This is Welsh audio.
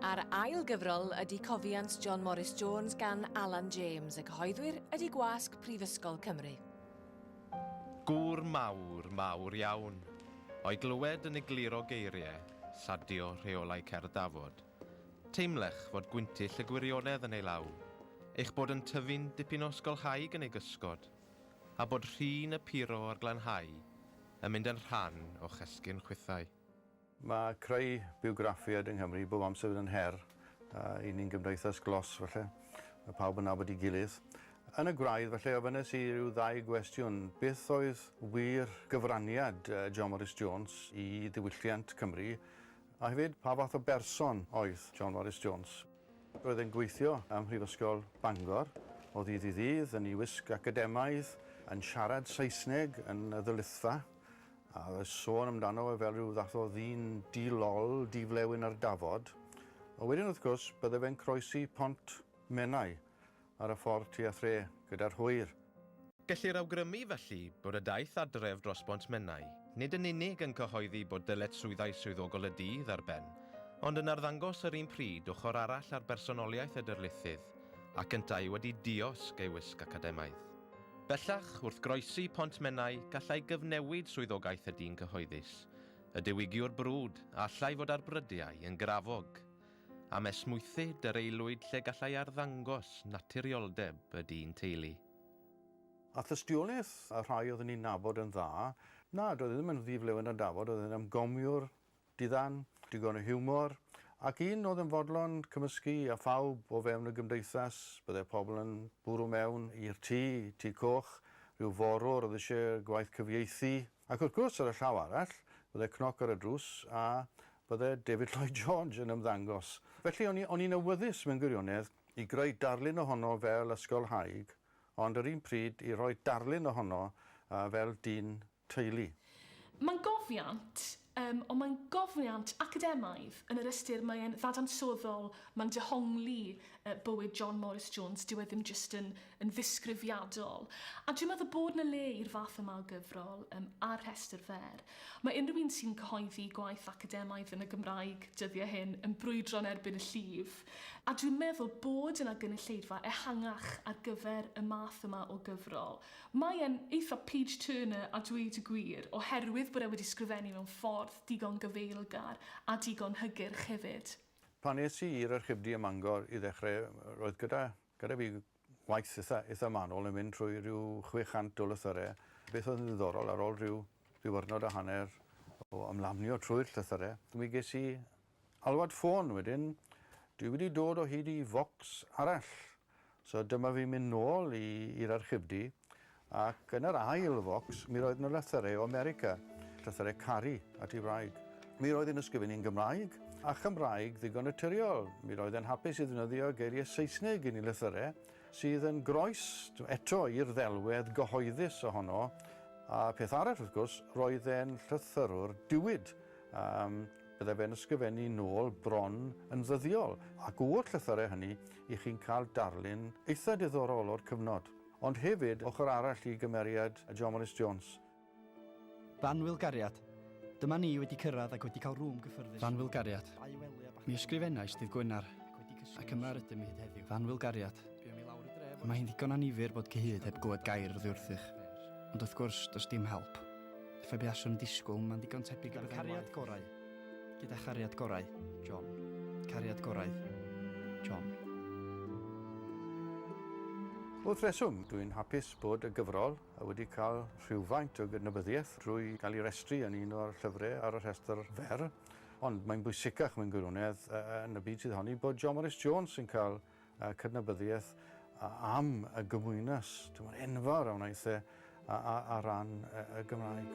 A'r ail gyfrol ydy Cofiant John Morris Jones gan Alan James, y cyhoeddwyr ydy Gwasg Prifysgol Cymru. Gŵr mawr, mawr iawn. O'i glywed yn egluro geiriau, lladio rheolau cerdd Dafod. Teimlech fod gwyntyll y gwirionedd yn ei law, eich bod yn tyfu'n dipyn o ysgolhaig yn ei gysgod, a bod rhin y puro a'r glanhau yn mynd yn rhan o'ch esgyrn chwithau. Mae creu bywgraffiaid yng Nghymru bob amser wedi bod yn her i ni'n gymdeithas glos falle, mae pawb yn nabod ei gilydd. Yn y gwraidd falle ofynes i ryw ddau gwestiwn, beth oedd wir gyfraniad John Morris Jones i ddiwylliant Cymru, a hefyd pa fath o berson oedd John Morris Jones? Roedd e'n gweithio ym Mhrifysgol Bangor o ddydd i ddydd, yn ei wisg academaidd, yn siarad Saesneg yn y ddylithfa, A oedd e'n sôn amdano fe fel rhyw fath o ddyn di-lol, di-flewyn ar dafod. Ond wedyn, wrth gwrs, bydde fe'n croesi Pont Menai ar y ffordd tua thre gyda'r hwyr. Gellir awgrymu, felly, bod y daith adref dros Bont Menai nid yn unig yn cyhoeddi bod dyletswyddau swyddogol y dydd ar ben, ond yn arddangos yr un pryd ochr arall ar bersonoliaeth y darlithydd, ac yntau wedi diosg ei wisg academaidd. Bellach, wrth groesi Pont Menai, gallai gyfnewid swyddogaeth y dyn cyhoeddus, y diwygiwr brwd, a allai fod ar brydiau yn grafog. Am esmwythu dŷ'r aelwyd lle gallai arddangos naturioldeb y dyn teulu. A thystiolaeth y rhai oedd yn ei nabod yn dda, na, doedd e ddim yn ddi-flewyn a dafod, oedd e'n ymgomiwr Dydan, digon o hiwmor, ac un oedd yn fodlon cymysgu â phawb o fewn y gymdeithas, byddai pobl yn bwrw mewn i'r tŷ, Tŷ Coch, rhyw forwr oedd eisiau gwaith cyfieithu, ac wrth gwrs, ar y llaw arall, byddai cnoc ar y drws a byddai David Lloyd George yn ymddangos. Felly, o'n i, o'n i'n awyddus mewn gwirionedd i greu darlun ohono fel ysgolhaig, ond yr un pryd i roi darlun ohono fel dyn teulu. Mae'n gofiant, yym, ond mae'n gofiant academaidd yn yr ystyr mae e'n ddadansoddol, mae'n dehongli yy bywyd John Morris Jones, dyw e ddim jyst yn yn ddisgrifiadol. A dwi'n meddwl bod 'na le i'r fath yma o gyfrol yym ar rhestr fer. Mae unrhyw un sy'n cyhoeddi gwaith academaidd yn y Gymraeg dyddiau hyn yn brwydro yn erbyn y llif, a dwi'n meddwl bod yna gynulleidfa ehangach ar gyfer y math yma o gyfrol. Mae e'n eitha page turner a dweud y gwir, oherwydd bod e wedi sgrifennu mewn ffordd digon gyfeilgar a digon hygyrch hefyd. Pan es i i'r Archifdy ym Mangor i ddechrau, roedd gyda gyda fi waith eitha eitha manwl yn mynd trwy ryw 600 o lythyrau. Beth oedd yn ddiddorol, ar ôl ryw ddiwrnod a hanner o ymlamnio trwy'r llythyrau, mi ges i alwad ffôn wedyn, dwi wedi dod o hyd i focs arall. So dyma fi'n mynd nôl i i'r archifdy ac yn yr ail focs mi roedd 'na lythyrau o America, llythyrau caru at ei wraig. Mi roedd hi'n ysgrifennu'n Gymraeg, a Chymraeg ddigon naturiol. Mi roedd e'n hapus i ddefnyddio geiriau Saesneg yn ei lythyrau, sydd yn groes eto i'r ddelwedd gyhoeddus ohono, a peth arall wrth gwrs, roedd e'n llythyrwr diwyd, a byddai fe'n ysgrifennu nôl bron yn ddyddiol, ac o'r llythyrau hynny, i chi'n cael darlun eitha diddorol o'r cyfnod, ond hefyd ochr arall i gymeriad John Morris Jones. Fanwyl Gariad, Dyma ni wedi cyrraedd ac wedi cael rŵm gyffyrddus. Fanwyl Gariad, Mi ysgrifennais dydd Gwener, ac yma rydym ni hyd heddiw. Fanwyl Gariad, Y mae hi'n ddigon annifyr bod cyhyd heb glywed gair oddi wrthych, ond wrth gwrs, does dim help. Effaith be aswn yn disgwyl, mae'n ddigon tebyg i byddai'n waeth. Cariad gorau. Gyda chariad gorau, John. Cariad gorau, John. Wrth reswm, dw i'n hapus bod y gyfrol wedi cael rhywfaint o gydnabyddiaeth drwy gael ei restru yn un o'r llyfrau ar y rhestr fer, ond mae'n bwysicach mewn gwirionedd yn y byd sydd ohoni bod John Morris Jones yn cael a cydnabyddiaeth am y gymwynas tymor enfawr a wnaeth e ar ran y Gymraeg.